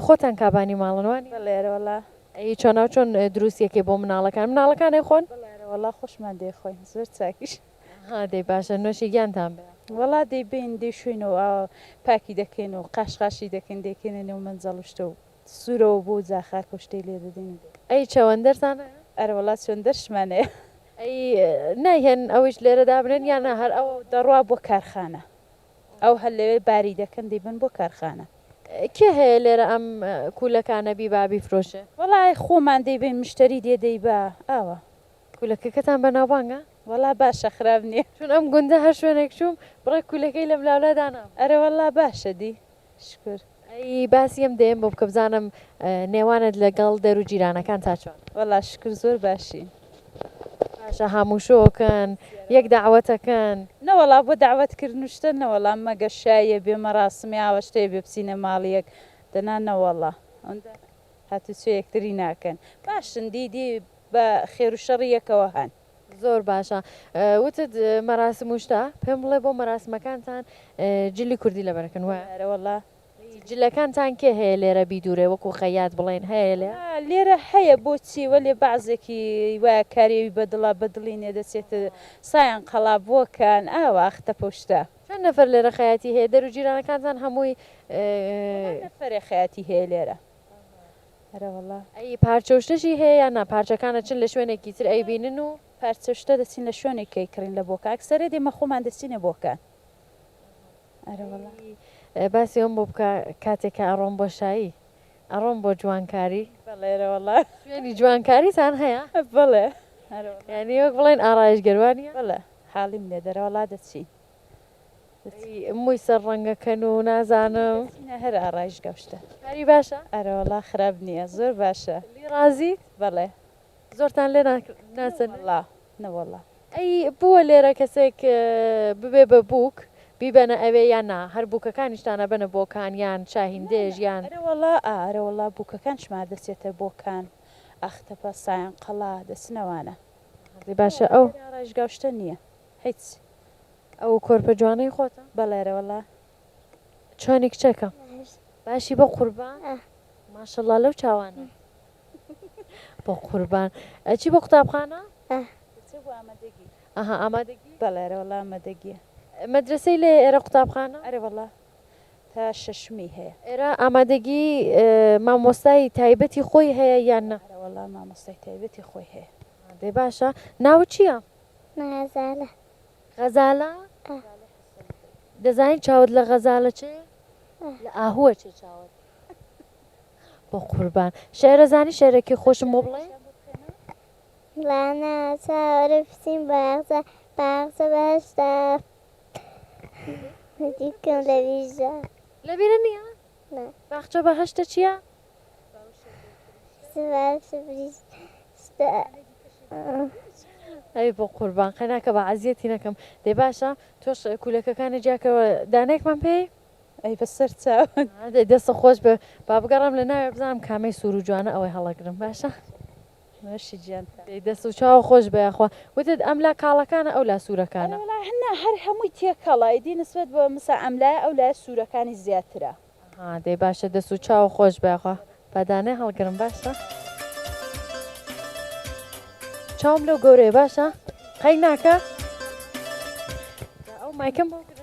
خۆتان کابانی ماڵن وانیە؟ بەڵێ ئەرێوەڵا.
ئەی چۆنا و
چۆن دروستی ئەکەی بۆ مناڵەکان مناڵەکان ئەیخۆن؟ بەڵێ ئەرێوەڵا خۆشمان
دەیخۆین زۆر چاکیش. ها دەی باشە
نۆشی گیانتان بێ. وەڵا دەیبەین
دەیشۆین و ئاوا پاکی دەکەین و قاش قاشی دەکەین دەیکەینە نێو مەنجەڵ و شتە و سورەوە بۆ جا خاک و شتەی لێ دەدەین. ئەی چەوەندەرتان
هەیە؟ ئەرەوەڵا
چوندەرشمان هەیە. ئەی
نایهێن ئەویش لێرە دابنێن یان نا هەر ئەوە دەڕوا بۆ کارخانە
ئەو هەر لەوێ باری دەکەن دەیبەن بۆ کارخانە. کێ هەیە
لێرە ئەم کوولەکانە بیبا بیفرۆشێ؟ وەڵا خۆمان
دەیبەین مشتەری دێ دەیبا ئاوا. کوولەکەکەتان
بەناوبانگە؟ وەڵا باشە
خراپ نیە. چون ئەم گوندە هەر
شوێنێک چووم بڕێک کوولەکەی لەملاولادانابوو. ئەرەوەڵا باشە
دی. شکور. ئەی باسی
ئەم دەیەم بۆ بکە بزانم نێوانت لەگەڵ دەرو جیرانەکان تا چۆن. وەڵا شکور زۆر
باشین. باشە
هاموو شۆکن یەک دەعوەتەکەن. نەوەڵا بۆ
دەعوەت کردن و شتە نەوەڵا مەگە شاییە بێ مەراسمی ئاوا شتەیە بێ بچینە ماڵی یەک دەنا نەوەڵا ئەوەندە هاتوچۆ یەکتری ناکەن باشن دی دی بە خێرو شەڕی یەکەوە هەن. زۆر باشە
وتت مەراسم و شتە پێم بڵێ بۆ مەراسمەکانتان جلی کوردی لەبەرەکەن وایە؟ ئەرێ وەڵا.
جلەکانتان
کێ هەیە لێرە بیدوورێ وەکوو خەیات بڵێن هەیە لێ؟ وەڵا لێرە هەیە
بۆچی وەلێ بەعزێکی وایە کاری ئەوی بە دڵە بە دڵی نیە دەچێتە سایان قەڵابۆکان ئاوا ئەختەپە و شتە. چەند نەفەر لێرە
خەیاتی هەیە؟ دەرو جیرانەکانتان هەمووی. وەڵا نەفەرێ
خەیاتی هەیە لێرە. ئەرەوەڵا. ئەی پارچە
و شتەشی هەیە یان نا پارچەکان ئەچن لە شوێنێکی تر ئەیبینن و. پارچە و شتە دەچین لە
شوێنێک ئەیکڕین لە بۆکان ئەکسەرێ دێمە خۆمان دەچینە بۆکان ئەرەوەڵا. ئەی
باسی ئەوم بۆ بکە کاتێ کە ئەڕۆم بۆ شایی ئەڕۆم بۆ جوانکاری. بەڵێ ئەرەوەڵا.
شوێنی
جوانکاریتان هەیە؟ بەڵێ
ئەرەوەڵا. یانی
وەک بڵێن ئارایشگەر وانیە؟ بەڵێ حاڵی
منێت ئەرەوەڵا دەچین.
موی سەر ڕەنگە کەن و نازانم سینە هەر ئارایش
گەمشتە کاری باشە ئەرە
وەڵا خراپ
نییە زۆر باشە لی ڕازیت
بەڵێ
زۆرتان لێ
ناسن لا نەوەڵا
ئەی بووە
لێرە کەسێک ببێ بە بووک بیبەنە ئەوێ یان نا هەر بووکەکانیشتانە بەنە بۆکان یان شاهیندێژ یان ئەرەوەڵا ئارەوەڵا
بووکەکان شمار دەچێتە بۆکان ئاختەپە سایان قەڵا دەچنەوانە باشە
ئەو ڕژگاشتە نییە.
هیچ ئەو
کۆرپە جوانەی خۆتە؟ بەڵێرە وەڵا چۆنی کچەکەم باشی بەقوربان ماشەڵا لەو چاوانە بەقوربان ئەچی بۆ قوتابخانە؟ ئەها ئامادەگی؟ بەڵێرە وەڵا ئامادەگیە. مەدرەسەی
لێیە ئێرە
قوتابخانە؟ ئەرێ
وەڵا تا شەشمی هەیە. ئێرە ئامادەگی
مامۆستای تایبەتی خۆی هەیە یان نا؟ ئەرێ وەڵا مامۆستای
تایبەتی خۆی هەیە. دەی باشە
ناوت چیە؟ غەزالە. غەزالە؟ ئا. دەزانی چاوت لە غەزالە چێ؟ ئا. لە ئاهووە چێ چاوت. بەقوربان. شعرە زانی شعرەکی خۆشم بۆ بڵێ؟ لانە
چاوەرێ بچین باغجە باغجە بەهەشتە هەدیکم لە بیرجە. لە بیرە نییە؟
نا. باخچە
بەهەشتە
چییە؟ ئەی بۆ قوربان قەناکە با عەزیەتی نەکەم دەی باشە تۆش کولەکەکانی جیاکەوە دانێکمان پێی ئەی بە سەر
چاوت دەستە خۆش بێ
با بگەڕم لە ناوێ بزانم کامەی سوور و جوانە ئەوەی هەڵەگرم باشە نوێشی
جیان دەست و چاوە خۆش
بەیاخوا وتت ئەم لا کاڵەکانە ئەو لا سوورەکانە هەر هەمووی
تێکەڵە ئیدی نسبەت بە مسا ئەم لایە ئەو لایە سوورەکانی زیاترە. ها دەی باشە
دەس و چاو خۆش بێ ئەخوا بەدانێ هەڵگرم باشە چاوم لەو گەورەیە باشە قەی ناکە ئەو مایکم بۆ گرن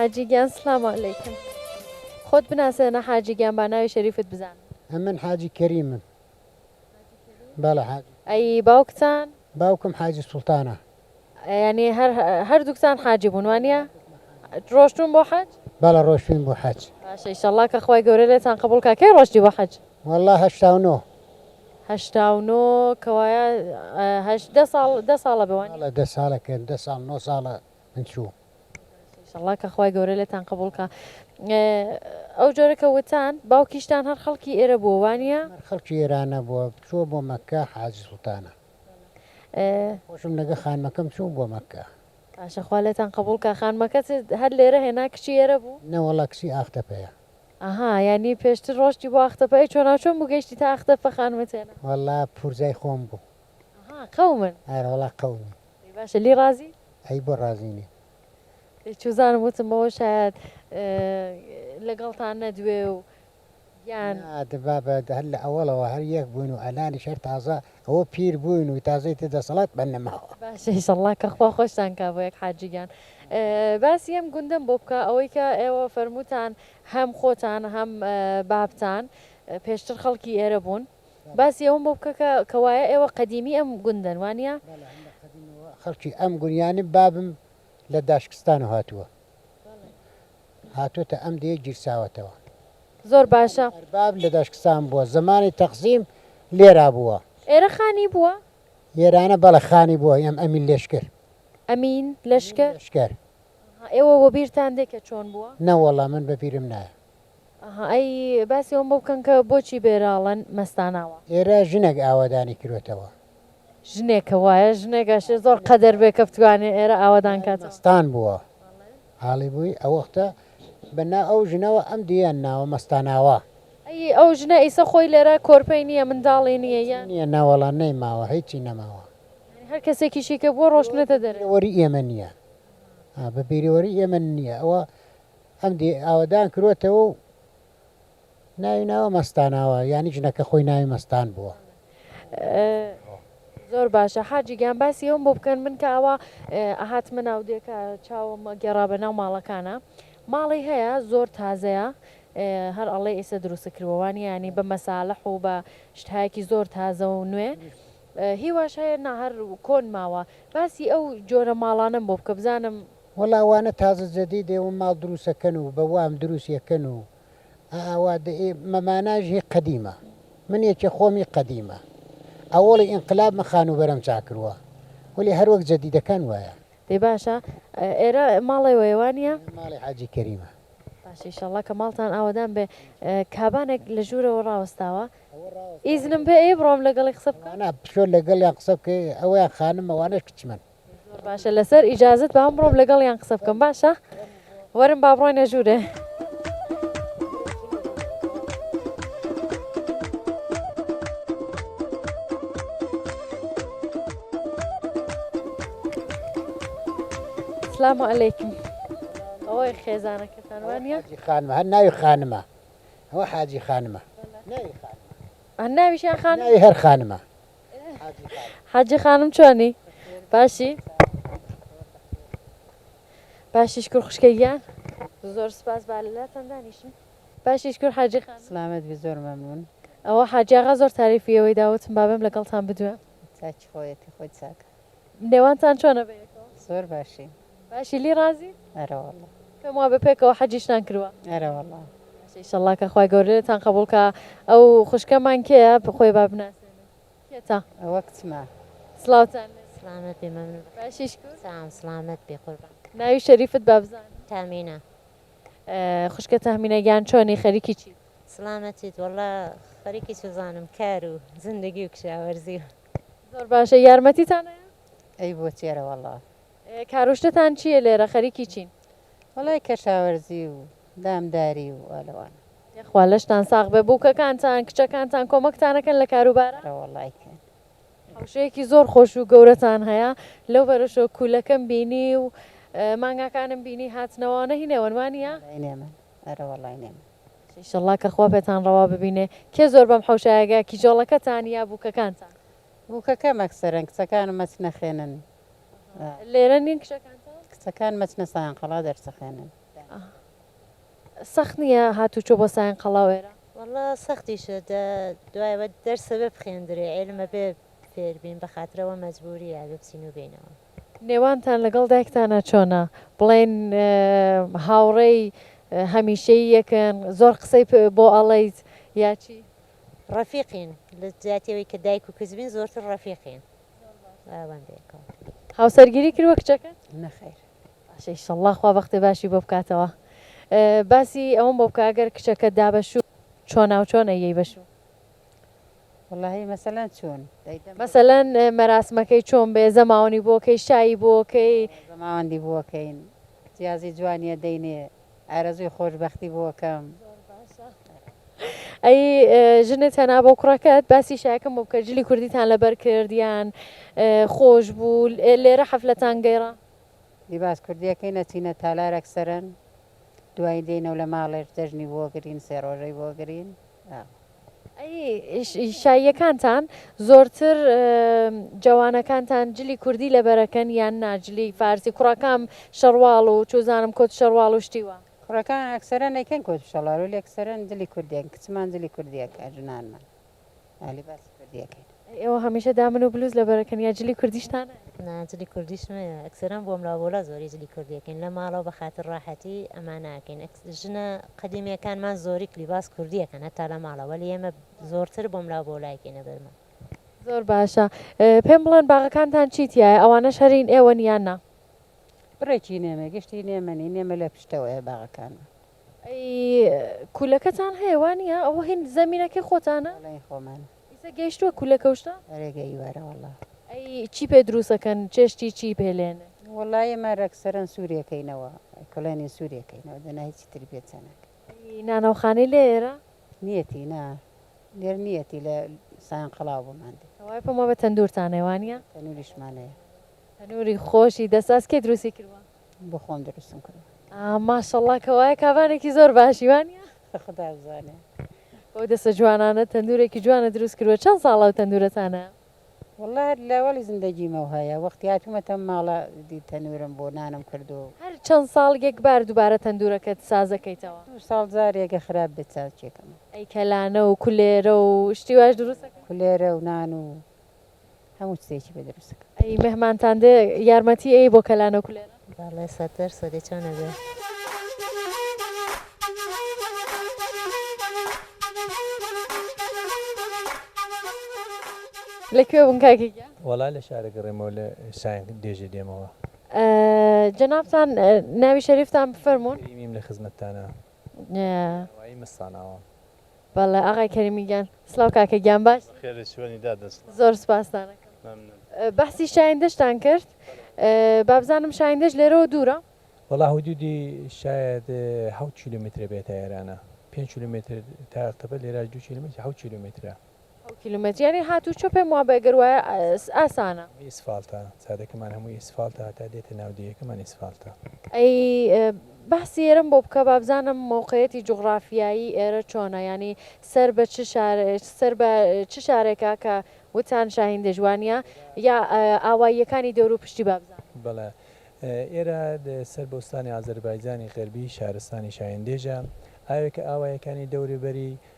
حاجی گیان سلام علیکم خۆت بناسێنە حاجی گیان با ناوی شەریفت بزانم. ئەمن حاجی
کەریمم. بەڵێ حاجی. ئەی باوکتان؟
باوکم حاجی
سوڵتانە. یانی
هەر هەردووکتان حاجی بوون وانە ڕۆشتون بۆ حەج بەڵە ڕۆشتوین بۆ
حەج شەڵا کە خخوای
گەورە لێتان قبولکە کەی ڕۆشتی بۆ حەج والله هەشتا و نۆ
هەشتا
و نۆ کەوایە هەشدە ساڵ دە ساڵە بوان لە دە ساڵە کرد دە
ساڵ نۆ ساڵە من چوو شڵا
کە خخوای گەورە لێتان قبولکە ئەو جۆرە کە وتان باوکیشتان هەر خەڵکی ئێرە بووانە خەڵکی ئێرانە
بووە چۆ بۆ مەکە حاج سوڵتانە خۆشم لەگە خانمەکەم چوو بۆ مەککە. باشە خوا لێتان
قبوڵ کا خانمەکەت هەر لێرە هێنا کچی ئێرە بوو؟ نەوەڵا کچی ئاختەپەیە.
ئەها یانی
پێشتر ڕۆشتی بۆ ئاختەپە ئەی چۆناوچۆن بوو گەیشتی تا ئاختەپە خانمت هێنا؟ وەڵا پورزای
خۆم بوو. ئەها قەومن.
ئەرە وەڵا قەومین.
ئەی باشە لی
ڕازی؟ ئەی بۆ ڕازی
نیم. ئەی
چوزانم وتم بەوە شایەد لەگەڵتان نەدوێ و. گیان. نا دبا بە
هەر لە ئەوەڵەوە هەر یەک بووین و ئەلانیش هەر تازە ئەوە پیر بووین و تازە ئیتر دەسەڵات بان نەماوە. باشە ئیشەڵڵا کە خوا
خۆشتان کا بۆ یەک حاجی گیان باسی ئەم گوندەم بۆ بکە ئەوەی کە ئێوە فەرمووتان هەم خۆتان هەم بابتان پێشتر خەڵکی ئێرە بوون باسی ئەوم بۆ بکە کە کە وایە ئێوە قەدیمی ئەم گوندەن وانە؟ بەڵێ هەم لە قەدیمەوە
خەڵکی ئەم گوند یانی بابم لە داشکستانەوە هاتووە هاتۆتە ئەم دێ گیرساوەتەوە. زۆر باشە.
ئەی ئەرباب لە داشکستان
بووە. زەمانی تەقسیم لێرا بووە. ئێرە خانی
بووە؟ ئێرانە بەڵێ
خانی بووە. ئێم ئەمین لەشکر. ئەمین
لەشکر. لەشکر.
ئەها ئێوە
وەبیرتان دێ کە چۆن بووە؟ نە وەڵا من بەبیرم
نایە. ئەها ئەی
باسی ئەوەم بۆ بکەن کە بۆچی بێراڵن مەستاناوە؟ ئێرە ژنێک
ئاوەدانی کرۆتەوە. ژنێکە
وایە ژنێک ئەشێ زۆر قەدەر بێ کە بتوانێ ئێرە ئاوەدان کاتەوە. مەستان بووە.
عالی بووی ئەوەختە بە نا ئەو ژنەوە ئەم دییان ناوە مەستاناوە. ئەی ئەو
ژنە ئیسە خۆی لێرە کۆرپەی نیە منداڵی نیە یان. هیچی نیە نەوەڵا نەیماوە
هیچی نەماوە. یانی هەر کەسێکیشی
کە بووە ڕۆشتنەتە دەرێ. بە بیرەوەری ئێمە نیە
ها بە بیرەوەری ئێمە نیە ئەوە ئەم دییە ئاوەدان کروەتەوە و. ناوی ناوە مەستاناوە یانی ژنەکە خۆی ناوی مەستان بووە.
زۆر باشە حاجی گیان باسی ئەوم بۆ بکەن من کە ئەوا ئەهاتمە ناودێ کە چاوم گێڕا بە ناو ماڵەکانە ماڵی هەیە زۆر تازەیە هەر ئەڵێ ئیسە دروست کردوەوانی ینی بە مەساالح و بە شتایەکی زۆر تازە و نوێ هیواش هەیە ناهر کۆن ماوە باسی ئەو جۆرە ماڵانم بۆ بکە بزانم وەڵاوانە تازە
جەدی دێوم ماڵ دروستەکەن و بە وام دروست یەکەن و ئا ئاوا دە ئێ مە ماناژ هی قەدیمە من یە کێ خۆم ی قەدیمە ئە وڵی ئینقلاب مە خانووبەرەم چا کروە ولی هە روەک جە دیدەکان وایە. دەی باشە
ئێرە ماڵێ وەیە وانیە؟ ئێرە ماڵی حاجی کەریمە.
باشە ئیشەڵا
کە ماڵتان ئاوەدان بێ کابانێک لە ژوورەوە ڕاوەستاوە ئیزنم پێ ئەیە بڕۆم لەگەڵی قسە بکەم؟ نا بچۆ لەگەڵیان
قسە بکەی ئەویان خانمە وانەش کچمن. زۆر باشە لەسەر
ئیجازت با بڕۆم لەگەڵیان قسە بکەم باشە وەرم با بڕۆینە ژوورێ سلام علیکم ئەوەی خێزانەکەتان وانە خانمە هەر ناوی
خانمە ئەوە حاجی خانمە
ناویشیان خانەوی هەر خانمە حاجی خانم چۆنی باشی باشی شکر خوشکە گیان زۆر سپاس با لەلاتان دانیشم باشی شکر حاجی خانم سلامت بی زۆر مەمنون
ئەوە حاجی ئاغا
زۆر تاریفی ئێوەی داوتم با بێم لەگەڵتان بدوێم چاکی خۆیەتی
خۆی چاکە. نێوانتان
چۆنە بە یەکەوە؟ زۆر باشین.
باشی لی ڕازی؟
ئەرە وەڵا.
پێم وا بە پێکەوە
حەجیشتان کروە. ئەرە وەڵا. باشە
ئیشەڵا کە
خوای گەورە لێتان قەبوڵ کا ئەو خوشکەمان کێیە خۆی با بناسێنێ کێتە؟ ئەوە کچمە. سڵاوتان لێ. سڵامەت بی مەمنون بەخێر. باشی
شکور؟
سام سڵامەت بی
قوربان. ناوی شەریفت با
بزانم؟ تامینە. خوشکە تهمینە گیان چۆنی خەریکی چیت؟ سڵامەتیت وەڵا
خەریکی چزانم کارو زندگی و کشاوەرزی و. زۆر باشە
یارمەتیتان هەیە؟ ئەی بۆ
تێرە وەڵا. کاروشتتان
چیە لێرە خەریکی چین؟ وەڵای
کەشاوەرزی و دامداری و وا لەوانە. یەخوا لەشتان
ساغ بێ بوکەکانتان کچەکانتان کۆمەکتانەکەن لە کاروبارا؟ ئەرە وەڵای
کەن. حەوشەیەکی
زۆر خۆش و گەورەتان هەیە لەو بەرەشەوە کولەکەم بینی و مانگاکانم بینی هاتنەوە ئەوانە هی نێوەنمانیە؟ وەڵای نێمن
ئەرە وەڵای نێمن. ئیشەڵڵا کە خوا
پێتان ڕەوا ببینێ. کێ زۆر بەم حەوشایەگە کیژۆڵەکەتان یا بووکەکانتان؟ بووکەکەم
ئەکسەرەن کچەکانم ئەچنە خوێنن. ئەها
لێرە نین کچەکانتان؟ کچەکانم ئەچنە
سایان قەڵا دەرسەخوێنن. ئەها
سەخت نییە هاتوو چۆ بۆ سایان قەڵا و ئێرە؟ وەڵڵا سەختیشە
دە دوایە بە دەرس ئەبێ بخوێندرێ عیلم ئەبێ فێربین بەخاترەوە مەجبوورییە ئەبێ بچین و بێینەوە. نێوانتان لەگەڵ
دایکتانا چۆنە؟ بڵێن هاوڕێی هەمیشەیی یەکن؟ زۆر قسەی بۆ ئەڵێیت یا چی؟ ڕەفیقین،
لە جیاتی ئەوەی کە دایک و کچ بین زۆرتر ڕەفیقین. هاوسەرگیری
کردووە کچەکەت؟ نەخێر.
باشە ئیشەڵڵا
خوا بەختێ باشی بۆ بکاتەوە. باسی ئەوەم بۆ بکە ئەگەر کچەکەت دا بە شوو چۆناوچۆن ئەیەی بە شوو؟
وەڵاهی مەسەلەن چۆن؟ مەسەلەن
مەراسمەکەی چۆن بێ زەماوەنی بۆ کەی شایی بۆ کەی؟ زەماوەندی بۆ
کەین کتیازی جوانیە دەینێ ئارەزووی خۆش بەختی بۆ کەم.
ئەی ژنت هەنا بۆ کوڕەکەت باسی شایەکەم بۆ بکە جلی کوردیتان لەبەر کردیان خۆش بوو لێرە حەفلەتان گەیڕا لیباس
کوردیەکەی نەچینە تالارەک سەرن دوایی دێنەوە لە ماڵێش جەژنی بۆگرین سێ ڕۆژەی بۆگرین ئەی
شاییەکانتان زۆرتر جەوانەکانتان جلی کوردی لەبەرەکەن یان نا جلی فارسی کوڕەکام شەڕواڵ و چوزانم کۆت شەڕواڵ و شتی وا. کوڕەکان ئەکسەرەن
ئەیکەن کۆت شەڵار وەلی ئەکسەرەن جلی کوردی ئەکەن کچمان جلی کوردی ئەکا ژنانمان ئا لیباسی کوردی ئەکەین. ئێوە هەمیشە
دامن و بلوز لەبەرەکەن یا جلی کوردیشتان هەیە؟ نا جلی کوردیشم
هەیە ئەکسەرەن بۆ ملا بۆلا زۆری جلی کوردی ئەکەین لە ماڵەوە بە خاتر ڕاحەتی ئەمە ناکەین ئەک ژنە قەدیمیەکانمان زۆری کلیباس کوردی ئەکەن هەتا لە ماڵە وەلی ئێمە زۆرتر بۆ ملا بۆلا ئەکەینە بەرمە. زۆر باشە
پێم بڵێن باغەکانتان چی تیایە ئەوانەش هەر هین ئێوەن یان نا؟ بڕێکی
نێمە گشت هین ئێمە نین ئێمە لە پشتەوەیە باغەکانمان. ئەی
کولەکەتان هەیە وانیە ئەوە هین زەمینەکەی خۆتانە؟ بەڵێ هین خۆمانە.
ئیسە گەیشتوە کولە
کەوشتە؟ ئەرێ گەیی وەرە وەڵا.
ئەی چی پێ
دروستەکەن چێشتی چی پێ لێنن؟ وەڵا ئێمە
رەکسەرەن سوریە کەینەوە کڵێنی سوریە کەینەوە دەنا هیچی تری پێ چەناکەین. ئەی نانەو خانەی
لێ ئێرە؟ نیەتی نا
لێر نیەتی لە سایان قەڵاو بۆمان دێ. کەوای پەمە بە تەندورتان
هەیە وانیە؟ تەنوریشمان هەیە.
تەنوری
خۆشی دەست ئاست کێ دروستی کردوە؟ بۆ خۆم دروستم
کردوە. ماشااللە
کەوایە کابانێکی زۆر باشی وانیە؟ خودا بزانێ.
بەو دەسە
جوانانە تەندورێکی جوانت دروست کردوە چەند ساڵە ئەو تەندورەتانە؟ واللە هەر
لە وەڵی زندەگیمەو هەیە وەختی هاتومەتە ماڵە دی تەنورم بۆ نانم کرد و. هەر چەند ساڵ
یەک بار دوبارە تەندورەکەت سازەکەیتەوە؟ دوو ساڵ جارێگە
خراپ بێت چاوچێکەمە. ئەی کەلانە
و کولێرە و شتی واش دروست ئەکەی؟ کولێرە و نان و.
هەموو چتێکی بە دروست کرد ئەی مهمانتان دێ
یارمەتی ئەی بۆ کەلانە و کولێرە بەڵێ سەد دەر
سەدێ چۆن نەبێ
لە کوێ بوون کاکی گیان وەڵا لە شارە
گەڕێمەوە لە شایەن دێژێ دێمەوە
جەنابتان ناوی شەریفتان بفەرمونون میم لە خزمەتتانە
وای مستاناوە بەڵێ
ئاغای کەریمی گیان. سڵاو کاکە گیان باش؟ بەخێرێ چۆنی دادە
سڵاو. زۆر سوپاستانەکەم.
مەمنون. بەحسی شایندەشتان کرد بابزانم شایندەش لێرەوە دوورە؟ وەڵا حدودی
شایەد حەوت کیلۆمیترە بێتە ئێرانە پێنج کیلۆمیتر تا ئەقتەبە لێرە دوو کیلۆمیتر حەوت کیلۆمیترە. ئەو کیلومەتریانەی
هات و چۆ پێم وابێ گەر وایە ئاسانە. ئیسفالتە
چادەکەمان هەمووی ئیسفالتە هەتا دێتە ناو دێیەکەمان ئیسفالتە. ئەی
بەحسی ئێرەم بۆ بکە با بزانم مەوقەیەتی جوغڕافیایی ئێرە چۆنە یانی سەر بە چ شار سەر بە چ شارێکە کە وتان شاهین دێژوانیە یا ئاواییەکانی دەورو پشتی با بزانم. بەڵێ
ئێرە سەر بە ئوستانی ئازەربایجانی غەربی شارستانی شاهین دێژە ئاوێکە ئاواییەکانی دەوروبەری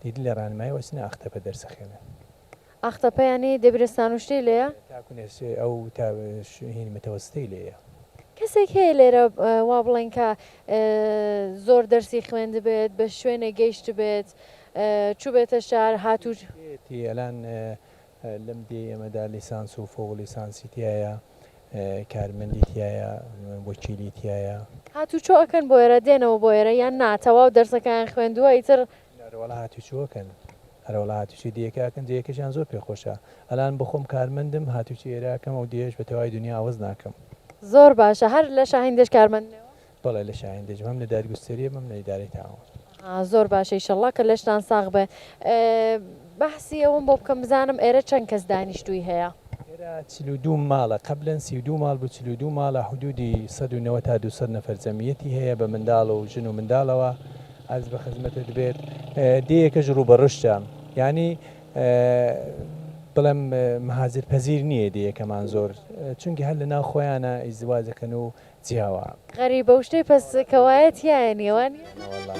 دیدی لە ڕانمایی وە چنە ئاختەپە دەرس ئەخوێنن. ئاختەپە
یانی دەبیرستان و شتی لێیە؟ تاکو نێرسێ ئەو
تا ش هینی متەوەستەی لێیە. کەسێک هەیە
لێرە وا بڵێن کە زۆر دەرسی خوێندبێت بە شوێنێک گەیشتبێت چوبێتە شار هاتو. ئێتی ئەلان
لەم دێ ئێمەدا لیسانس و فوق لیسانسی تیایە کارمەندی تیایە وەکیلی تیایە. هاتوچۆ ئەکەن
بۆ ئێرە دێنەوە بۆ ئێرە یان نا تەواو دەرسەکەیان خوێندووە ئیتر. ئەرەوەڵا هاتوچۆ
ئەکەن ئەرەوەڵا هاتوچۆی دێیەکە ئەکەن دێیەکەشیان زۆر پێ خۆشە ئەلان بۆ خۆم کارمەندم هاتوچۆی ئێرە ئەکەم ئەو دێیەش بە تەواوی دونیا عەوەز ناکەم. زۆر باشە
هەر لە شاهین دێش کارمەندنەوە؟ بەڵێ لە شاهین
دەژیم هەم لە دادگوستەری هەم لە ئیدارەی تاون. زۆر باشە
ئیشەڵڵا کە لەشتان ساغ بێ بەحسی ئەوەم بۆ بکەم بزانم ئێرە چەند کەس دانیشتووی هەیە؟ ئێرە چل و
دوو ماڵە قەبلەن سی و دوو ماڵ بوو چل و دوو ماڵە حدوودی سەد و نەوەد تا دوو سەد نەفەر جەمیەتی هەیە بە منداڵ و ژن و منداڵەوە عەرز بە خزمەتت بێت دێیەکەش ڕوو بە ڕشتە یانی بڵێم مهاجر پەزیر نییە دێیەکەمان زۆر چونکی هەر لە ناو خۆیانە ئیزدواج دەکەن و جیاوا. غەریبە وشتەی
پەس کەوایە تیایە نیە وانیە؟ نەوەڵا.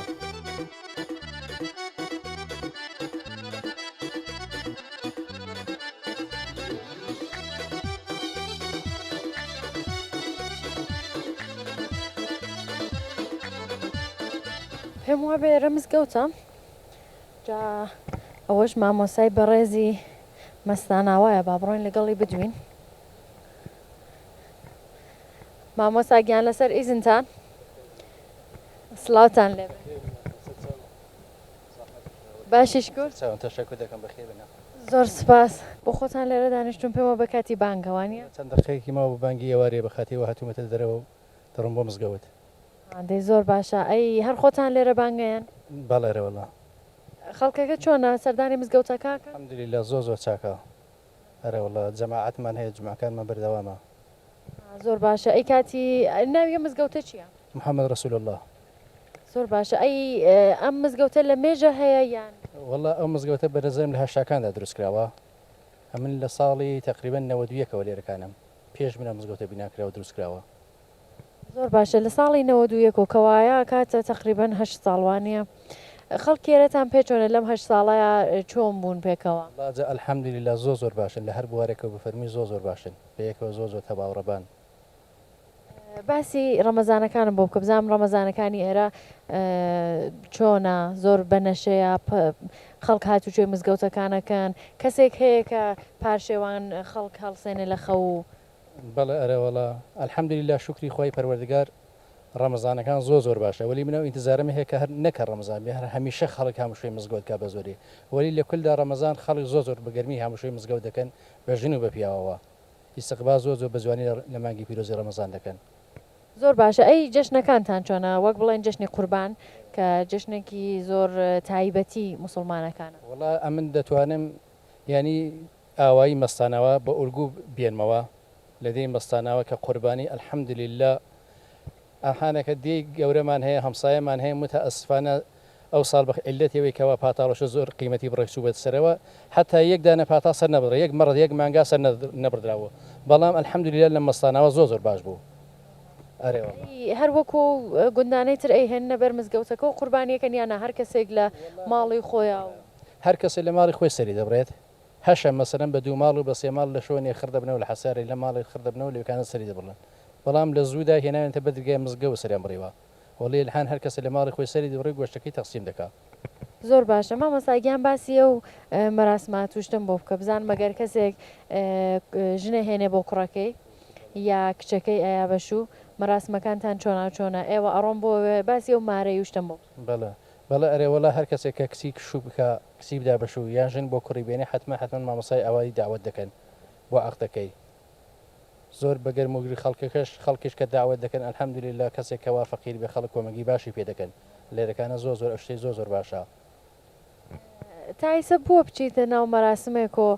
پێم وابێ ئێرە مزگەوتە جا ئەوەش مامۆسای بەڕێزی مەستاناوایە با بڕۆین لەگەڵی بدوین مامۆستا گیان لەسەر ئیزنتان سلااوتان لێ باشیش تەشەکر دەکەم بەخێ بنە زۆر سپاس بۆ خۆتان لێرە دانیشتون پێمە بە کاتی بانگەوانە چەند دقەیەکی ماوە بە
بانگی ئێوارێ بە خاتیەوە هاتوومەتە دەرەوە و دەڕۆم بۆ مزگەوت دەی زۆر
باشە ئەی هەر خۆتان لێرە بانگەیەن بەڵێ رەوەڵا
خەڵکەکە
چۆنە سەردانی مزگەوتەکە الحمدللە زۆر زۆر
چاکە. ئەرێ وەڵا جەماعەتمان هەیە جومعەکانمان بەردەوامە. زۆر
باشە ئەی کاتی ناوی ئەم مزگەوتە چیە؟ محمد رسول اللە.
زۆر باشە
ئەی ئەم مزگەوتە لە مێژە هەیە یان؟ وەڵا ئەو مزگەوتە
بەرەزەم لە هەشتاکاندا دروست کراوە ئەمن لە ساڵی تەقریبەن نەوەد و یەکەوە لێرەکانم پێش من ئەم مزگەوتە بیناکراو دروست کراوە. زۆر
باشە لە ساڵی نەوەد و یەکەوە کەوایە کاتە تەقریبەن هەشت ساڵ وانیە خەڵک کێرەتان پێ چۆنە لەم هەشت ساڵەیا چۆن بوون پێکەوە. وەڵا جا الحمدللە
زۆر زۆر باشن لە هەر بوارێکەوە بفەرمووی زۆر زۆر باشن بەیەکەوە زۆر زۆر تەباوڕەبان.
باسی ڕەمەزانەکانم بۆ بکە بزانم ڕەمەزانەکانی ئێرە چۆنە زۆر بە نەشەیە خەڵک هاتوچۆی مزگەوتەکانەکەن کەسێک هەیە کە پارشێوان خەڵک هەڵسێنێ لە خەو و بەڵێ
ئەرەوەڵا الحمدللە شوکری خوای پەروەردگار ڕەمەزانەکان زۆر زۆر باشە وەلی من ئەو ئینتزارەم هەیە کە هەر نەک هەر ڕەمەزان بێ هەر هەمیشە خەڵک هامشۆی مزگەوت کا بە زۆری وەلی لە کولدا ڕەمەزان خەڵک زۆر زۆر بە گەرمی هامشۆی مزگەوت دەکەن بە ژن و بە پیاوەوە ئیستقبال زۆر زۆر بە جوانی لە مانگی پیرۆزی ڕەمەزان دەکەن. زۆر باشە
ئەی جەژنەکانتان چۆنە وەک بڵێن جەژنی قوربان کە جەژنێکی زۆر تایبەتی موسڵمانەکانە. وەڵا ئەمن
دەتوانم یانی ئاوایی مەستاناوا بە ئورگو بێنمەوە لە دێی مەستاناوا کە قوربانی الحمدللە ئاهانەکە دێی گەورەمان هەیە هەمسایەمان هەیە متاسفانە ئەو ساڵ بە عیللەتی ئەوەی کەوا پاتاڵەشە زۆر قیمەتی بڕێک چووبێتە سەرەوە حەتا یەک دانە پاتاڵ سەر نەبڕدرا یەک مەڕ یەک مانگا سەر نەبڕدراوە بەڵام الحمدللە لە مەستاناوا زۆر زۆر باش بوو ئەرێ واللە.
هەر وەکو ئەو گوندانەی تر ئەیهێننە بەر مزگەوتەکە و قوربانی ئەکەن یانا هەر کەسێک لە ماڵی خۆیا و. هەر کەسێک لە
ماڵی خۆی سەری دەبڕێت هەشە مەسەلەن بە دوو ماڵ و بە سێ ماڵ لە شۆنێ خڕ دەبنەوە لە حەسارێ لە ماڵێ خڕ دەبنەوە لەوێکانە سەری دەبڕن بەڵام لە زوو دا هێناوێنتە بەر درگای مزگەوت سەریان بڕیوە وەڵی الحان هەر کەسە لە ماڵی خۆی سەری دبڕی گۆشتەکەی تەقسیم دەکا. زۆر باشە
مامۆستا گیان باسی ئەو مەراسمات و شتەم بۆ بکە بزانم مەگەر کەسێک ژن ئەهێنێ بۆ کوڕەکەی یا کچەکەی ئەیا بەش و مەراسمەکانتان چۆناو چۆنە ئێوە ئەڕۆن بۆ باسی ئەو مارەی و شتەم بۆ بکە. بەڵێ بەڵێ
ئەرێوەڵا هەر کەسێک کە کچی کشوو بکا. سیب دابەشو یان ژن بۆ کوڕی بێنێ حەتمەن حەتمەن مامۆستای ئاوایی دەعوەت دەکەن بۆ عەقدەکەی زۆر بە گەرم و گری خەڵکەکەش خەڵکیش کە دەعوەت دەکەن الحمدللە کەسێک کە وا فەقیر بێ خەڵک کۆمەگی باشی پێ دەکەن لێرەکانە زۆر زۆر ئەوشتەی زۆر زۆر باشە. تایسە
بوە بچیتە ناو مەراسمێکۆ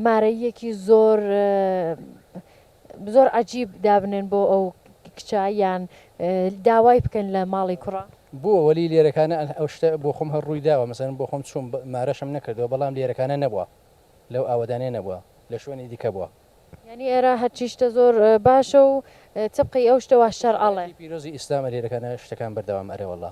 مارەییەکی زۆر زۆر عەجیب دابنێن بۆ ئەو کچە یان داوای بکەن لە ماڵی کوڕە. بووە وەلی لێرەکانە
ئەو شتە بۆخۆم هەر ڕووی داوە مەسەلەن بۆخۆم چووم مارەشم نەکردووە بەڵام لێرەکانە نەبووە لەو ئاوەدانە نەبووە لە شوێنی دیکە بووە. یانی ئێرە
هەرچی شتە زۆر باشە و تبقی ئەو شتە وا شەرعەڵێ. پیرۆزی ئیسلامە
لێرەکانە شتەکان بەردەوام ئەرێ وەڵا.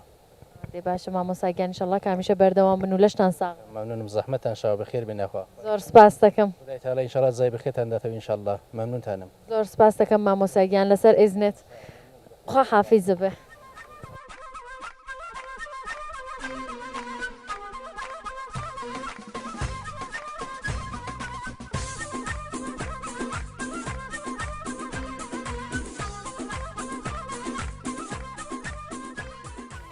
دەی باشە
مامۆستا گیان ئیشەڵڵا کە هەمیشە بەردەوام بن و لەشتان ساغ بێ. مەمنونم زەحمەتان شاو
بەخێر بێن یاخوا زۆر سوپاستەکەم.
خودای تەعالا ئینشاڵا جزای
بەخێرتان داتەوە ئینشاڵڵا مەمنونتانم. زۆر سوپاستەکەم
مامۆستا گیان لەسەر ئیزنت خوا حافیزە بێ.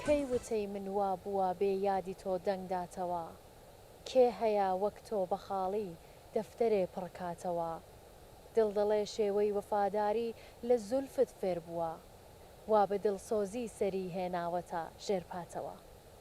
کەی وتەی من وا بووە بێ یادی تۆ دەنگ داتەوە کێ هەیە وەک تۆ بە خاڵی دەفتەرێ پڕ کاتەوە دڵ دەڵێ شێوەی وەفاداری لە زولفت فێر بووە وا بە دڵسۆزی سەری هێناوەتە ژێر پاتەوە